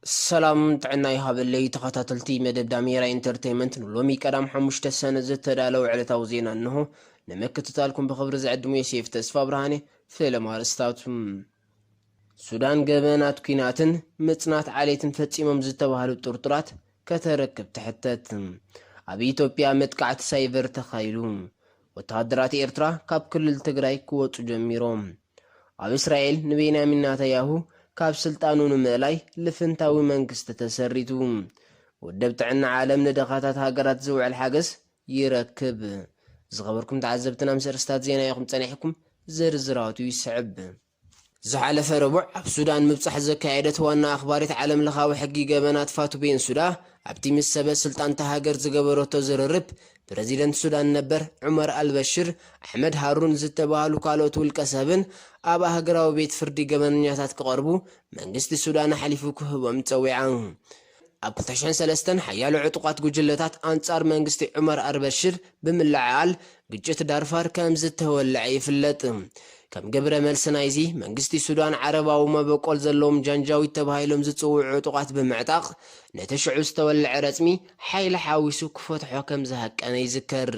ሰላም ጥዕና ይሃበለይ ተኸታተልቲ መደብ ዳሜራ ኢንተርተይመንት ንሎሚ ቀዳም ሓሙሽተ ሰነ ዝተዳለወ ዕለታዊ ዜና እንሆ ንምክትታልኩም ብኽብሪ ዝዕድሙ የሴፍ ተስፋ ብርሃኔ ፍለማ ኣርእስታቱ ሱዳን ገበናት ኩናትን ምጽናት ዓሌትን ፈጺሞም ዝተባህሉ ጥርጡራት ከተረክብ ትሕተት ኣብ ኢትዮጵያ መጥቃዕቲ ሳይበር ተኻይዱ ወተሃደራት ኤርትራ ካብ ክልል ትግራይ ክወጹ ጀሚሮም ኣብ እስራኤል ንቤንያሚን ናታያሁ ካብ ስልጣኑ ንምእላይ ልፍንታዊ መንግስቲ ተሰሪቱ። ውድብ ጥዕና ዓለም ንድኻታት ሃገራት ዝውዕል ሓገዝ ይረክብ። ዝኸበርኩም ተዓዘብትና ምስ ኣርእስታት ዜና ኢኹም ጸኒሕኩም፣ ዝርዝራቱ ይስዕብ። ዝሓለፈ ረቡዕ ኣብ ሱዳን ምብጻሕ ዘካየደት ዋና ኣኽባሪት ዓለምለኻዊ ሕጊ ገበናት ፋቱ ቤንሱዳ ኣብቲ ምስ ሰበ ስልጣን'ታ ሃገር ዝገበረቶ ዝርርብ ፕረዚደንት ሱዳን ነበር ዑመር ኣልበሽር፣ ኣሕመድ ሃሩን ዝተባህሉ ካልኦት ውልቀሰብን ኣብ ኣህግራዊ ቤት ፍርዲ ገበነኛታት ክቐርቡ መንግስቲ ሱዳን ኣሕሊፉ ክህቦም ጸዊዓ። ኣብ ክልተ ሽሕን ሰለስተን ሓያሎ ዕጡቓት ጉጅለታት ኣንጻር መንግስቲ ዑመር ኣርበሽር ብምልዕዓል ግጭት ዳርፋር ከም ዝተወልዐ ይፍለጥ። ከም ግብረ መልሲ ናይዚ፣ መንግስቲ ሱዳን ዓረባዊ መበቆል ዘለዎም ጃንጃዊድ ተባሂሎም ዝጽውዑ ዕጡቓት ብምዕጣቕ ነቲ ሽዑ ዝተወልዐ ረጽሚ ሓይሊ ሓዊሱ ክፈትሖ ከም ዝሃቀነ ይዝከር።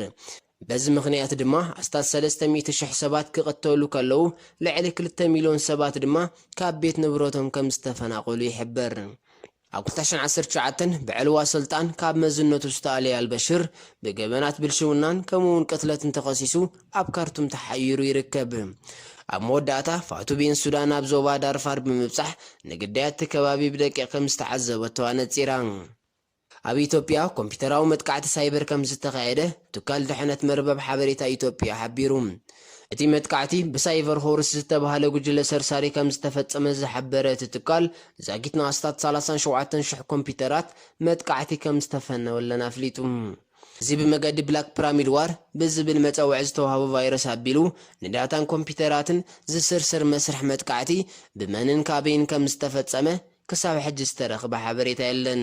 በዚ ምኽንያት ድማ ኣስታት ሰለስተ ሚእቲ ሽሕ ሰባት ክቕተሉ ከለዉ፣ ልዕሊ ክልተ ሚልዮን ሰባት ድማ ካብ ቤት ንብረቶም ከም ዝተፈናቐሉ ይሕበር። ኣብ ክልተ ሽሕን ዓሰርተ ትሽዓተን ብዕልዋ ስልጣን ካብ መዝነቱ ዝተኣልየ ኣልበሽር፣ ብገበናት ብልሽውናን ከምኡ'ውን ቅትለትን ተኸሲሱ ኣብ ካርቱም ተሓይሩ ይርከብ። ኣብ መወዳእታ፣ ፋቱ ቤንሱዳ ናብ ዞባ ዳርፋር ብምብጻሕ ንግዳያት'ቲ ከባቢ ብደቂቕ ከም ዝተዓዘበቶ ኣነጺራ። ኣብ ኢትዮጵያ ኮምፒተራዊ መጥቃዕቲ ሳይበር ከምዝተኻየደ ትካል ድሕነት መርበብ ሓበሬታ ኢትዮጵያ ሓቢሩ። እቲ መጥቃዕቲ ብሳይቨር ሆርስ ዝተብሃለ ጉጅለ ሰርሳሪ ከምዝተፈጸመ ዝሓበረ እቲ ትካል፣ ዛጊትና ኣስታት ሰላሳን ሸውዓተን ሽሕ ኮምፒተራት መጥቃዕቲ ከምዝተፈነወለን ኣፍሊጡ። እዚ ብመገዲ ብላክ ፕራሚድ ዋር ብዝብል መጸውዒ ዝተዋህቦ ቫይረስ ኣቢሉ ንዳታን ኮምፒተራትን ዝስርስር መስርሕ መጥቃዕቲ ብመንን ካበይን ከምዝተፈጸመ ክሳብ ሕጂ ዝተረኽበ ሓበሬታ የለን።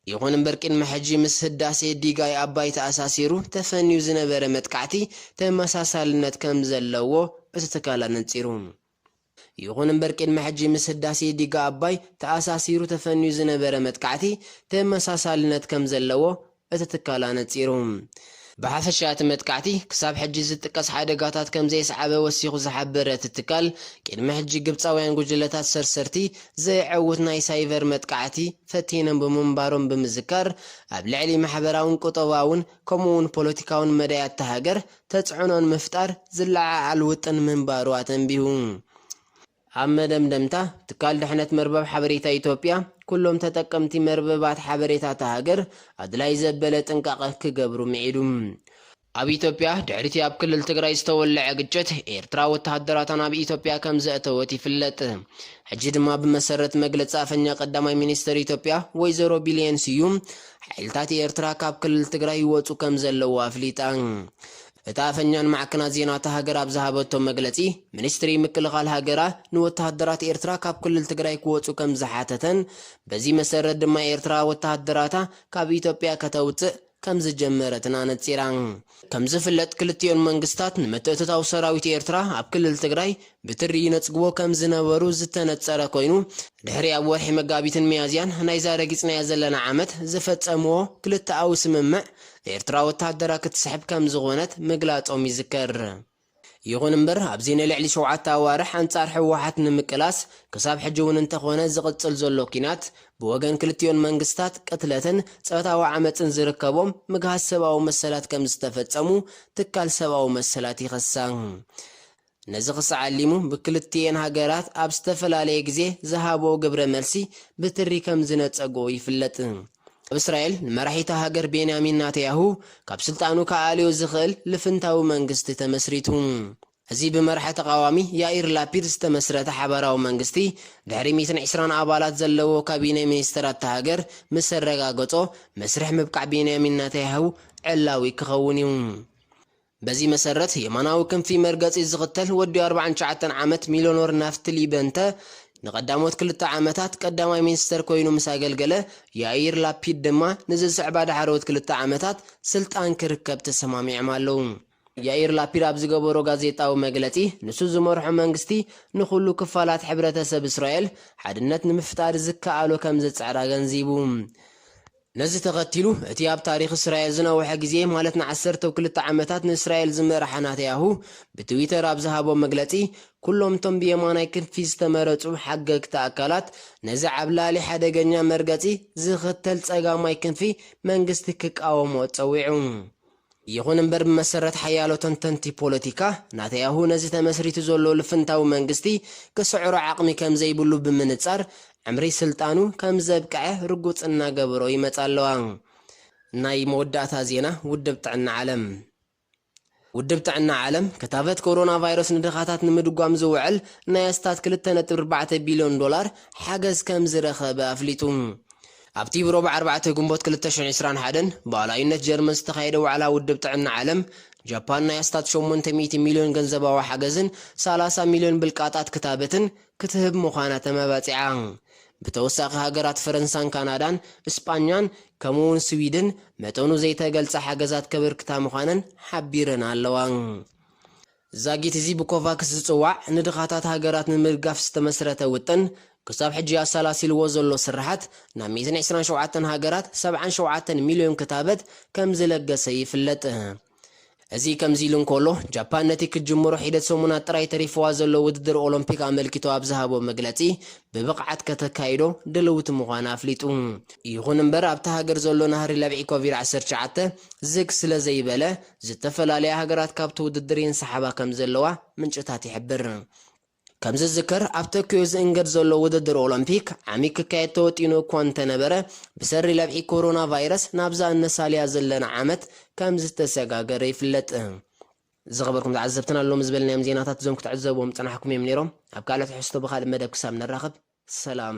ይኹን እምበር ቅድሚ ሕጂ ምስ ህዳሴ ዲጋይ ኣባይ ተኣሳሲሩ ተፈንዩ ዝነበረ መጥቃዕቲ ተመሳሳልነት ከምዘለዎ እቲ ትካል ኣነጺሩ። ይኹን እምበር ቅድሚ ሕጂ ምስ ህዳሴ ዲጋ ኣባይ ተኣሳሲሩ ተፈንዩ ዝነበረ መጥቃዕቲ ተመሳሳልነት ከምዘለዎ እቲ ትካል ኣነጺሩ። ብሓፈሻ እቲ መጥቃዕቲ ክሳብ ሕጂ ዝጥቀስ ሓደጋታት ከምዘየስዓበ ወሲኹ ዝሓበረ እቲ ትካል፣ ቅድሚ ሕጂ ግብጻውያን ጉጅለታት ሰርሰርቲ ዘየዐውት ናይ ሳይቨር መጥቃዕቲ ፈቲኖም ብምንባሮም ብምዝካር፣ ኣብ ልዕሊ ማሕበራውን ቁጠባውን ከምኡ'ውን ፖለቲካውን መዳያት እታ ሃገር ተጽዕኖ ንምፍጣር ዝለዓዓል ውጥን ምንባሩ ኣተንቢሁ። ኣብ መደምደምታ፣ ትካል ድሕነት መርበብ ሓበሬታ ኢትዮጵያ፣ ኩሎም ተጠቀምቲ መርበባት ሓበሬታ እታ ሃገር ኣድላዪ ዘበለ ጥንቃቐ ክገብሩ ምዒዱ። ኣብ ኢትዮጵያ፣ ድሕሪ'ቲ ኣብ ክልል ትግራይ ዝተወልዐ ግጭት፣ ኤርትራ ወተሃደራታ ናብ ኢትዮጵያ ከምዘእተወት ይፍለጥ። ሕጂ ድማ ብመሰረት መግለጺ ኣፈኛ ቀዳማይ ሚኒስተር ኢትዮጵያ ወይዘሮ ቢሌን ስዩም፣ ሓይልታት ኤርትራ ካብ ክልል ትግራይ ይወጹ ከምዘለዉ ኣፍሊጣ። እታ ኣፈኛ ንማዕከናት ዜና እታ ሃገር ኣብ ዝሃበቶ መግለጺ፣ ሚኒስትሪ ምክልኻል ሃገራ ንወተሃደራት ኤርትራ ካብ ክልል ትግራይ ክወጹ ከም ዝሓተተን በዚ መሰረት ድማ ኤርትራ ወተሃደራታ ካብ ኢትዮጵያ ከተውጽእ ከም ዝጀመረትን ኣነጺራ። ከም ዝፍለጥ ክልቲኦን መንግስታት ንምትእትታው ሰራዊት ኤርትራ ኣብ ክልል ትግራይ ብትሪ ይነጽግዎ ከም ዝነበሩ ዝተነጸረ ኮይኑ፣ ድሕሪ ኣብ ወርሒ መጋቢትን ሚያዝያን ናይዛ ረጊጽናያ ዘለና ዓመት ዝፈጸምዎ ክልተኣዊ ስምምዕ ኤርትራ ወተሃደራ ክትስሕብ ከም ዝኾነት ምግላጾም ይዝከር። ይኹን እምበር ኣብዚ ንልዕሊ ሸውዓተ ኣዋርሕ ኣንጻር ህወሓት ንምቅላስ ክሳብ ሕጂ እውን እንተኾነ ዝቕጽል ዘሎ ኲናት ብወገን ክልቲኦን መንግስታት ቅትለትን ጾታዊ ዓመጽን ዝርከቦም ምግሃስ ሰብኣዊ መሰላት ከም ዝተፈጸሙ ትካል ሰብኣዊ መሰላት ይኸሳ። ነዚ ክሳዕ ኣሊሙ ብክልቲኤን ሃገራት ኣብ ዝተፈላለየ ግዜ ዝሃብኦ ግብረ መልሲ ብትሪ ከም ዝነጸጎ ይፍለጥ። ኣብ እስራኤል ንመራሒ'ታ ሃገር ቤንያሚን ናተያሁ ካብ ስልጣኑ ክኣልዮ ዝኽእል ልፍንታዊ መንግስቲ ተመስሪቱ። እዚ ብመራሒ ተቓዋሚ ያኢር ላፒድ ዝተመስረተ ሓባራዊ መንግስቲ ድሕሪ ሚእትን ዕስራን ኣባላት ዘለዎ ካቢነ ሚኒስተራት'ታ ሃገር ምስ ኣረጋገጾ መስርሕ ምብቃዕ ቤንያሚን ናተያሁ ዕላዊ ክኸውን'ዩ። በዚ መሰረት የማናዊ ክንፊ መርገጺ ዝኽተል ወዲ ኣርብዓን ትሽዓተን ዓመት ሚልዮኖር ናፍትሊ በንተ ንቐዳሞት ክልተ ዓመታት ቀዳማይ ሚኒስተር ኮይኑ ምስ ኣገልገለ፣ ያኢር ላፒድ ድማ ንዝስዕባ ዳሕረዎት ክልተ ዓመታት ስልጣን ክርከብ ተሰማሚዖም ኣለዉ። ያኢር ላፒድ ኣብ ዝገበሮ ጋዜጣዊ መግለጺ፣ ንሱ ዝመርሖ መንግስቲ ንኹሉ ክፋላት ሕብረተሰብ እስራኤል ሓድነት ንምፍጣር ዝከኣሎ ከምዝጽዕር ኣገንዚቡ። ነዚ ተኸቲሉ፣ እቲ ኣብ ታሪኽ እስራኤል ዝነውሐ ግዜ ማለት ንዓሰርተው ክልተ ዓመታት ንእስራኤል ዝመርሐ ናተያሁ ብትዊተር ኣብ ዝሃቦ መግለጺ፣ ኩሎም እቶም ብየማናይ ክንፊ ዝተመረጹ ሓገግቲ ኣካላት ነዚ ዓብላሊ ሓደገኛ መርገጺ ዝኽተል ጸጋማይ ክንፊ መንግስቲ ክቃወምኦ ጸዊዑ። ይኹን እምበር ብመሰረት ሓያሎ ተንተንቲ ፖለቲካ፣ ናታያሁ ነዚ ተመስሪቱ ዘሎ ልፍንታዊ መንግስቲ ክስዕሮ ዓቕሚ ከም ዘይብሉ ብምንጻር፣ ዕምሪ ስልጣኑ ከም ዘብቅዐ ርጉጽ እናገበሮ ይመጻ ኣለዋ። ናይ መወዳእታ ዜና ውድብ ጥዕና ዓለም ውድብ ጥዕና ዓለም፣ ክታበት ኮሮናቫይረስ ንድኻታት ንምድጓም ዝውዕል ናይ ኣስታት ክልተ ነጥቢ ኣርባዕተ ቢልዮን ዶላር ሓገዝ ከም ዝረኸበ ኣፍሊጡ። ኣብቲ ብሮብ ኣርባዕተ ግንቦት ክልተ ሽሕ ዕስራን ሓደን ብኣላዩነት ጀርመን ዝተኻየደ ዋዕላ ውድብ ጥዕና ዓለም፣ ጃፓን ናይ ኣስታት ሸሞንተ ሚእቲ ሚልዮን ገንዘባዊ ሓገዝን ሰላሳ ሚልዮን ብልቃጣት ክታበትን ክትህብ ምዃና ተመባጺዓ። ብተወሳኺ ሃገራት ፈረንሳን ካናዳን እስጳኛን ከምኡ'ውን ስዊድን መጠኑ ዘይተገልጸ ሓገዛት ከበርክታ ምዃነን ሓቢረን ኣለዋ። ዛጊት እዚ ብኮቫክስ ዝጽዋዕ ንድኻታት ሃገራት ንምድጋፍ ዝተመስረተ ውጥን፣ ክሳብ ሕጂ ኣሳላሲልዎ ዘሎ ስርሓት፣ ናብ ሚእትን ዕስራን ሸውዓተን ሃገራት ሰብዓን ሸውዓተን ሚልዮን ክታበት ከምዝለገሰ ይፍለጥ። እዚ ከምዚ ኢሉ እንከሎ፣ ጃፓን ነቲ ክትጅምሮ ሒደት ሰሙናት ጥራይ ተሪፍዋ ዘሎ ውድድር ኦሎምፒክ ኣመልኪቱ ኣብ ዝሃቦ መግለጺ፣ ብብቕዓት ከተካይዶ ድልውቲ ምዃና ኣፍሊጡ። ይኹን እምበር ኣብታ ሃገር ዘሎ ናህሪ ለብዒ ኮቪድ ዓሰርተ ትሽዓተ ዝግ ስለዘይበለ፣ ዝተፈላለያ ሃገራት ካብቲ ውድድር ይንሳሓባ ከምዘለዋ ምንጭታት ይሕብር። ከምዝዝከር ኣብ ቶክዮ ዝእንገድ ዘሎ ውድድር ኦሎምፒክ ዓሚ ክካየድ ተወጢኑ እኳ እንተነበረ ብሰሪ ለብዒ ኮሮና ቫይረስ ናብዛ እነሳልያ ዘለና ዓመት ከምዝተሰጋገረ ይፍለጥ። ዝኸበርኩም ተዓዘብትና ሎሚ ዝበልናዮም ዜናታት እዞም ክትዕዘብዎም ዝጸናሕኩም እዮም ነይሮም። ኣብ ካልእ ትሕዝቶ ብኻልእ መደብ ክሳብ ንራኸብ ሰላም።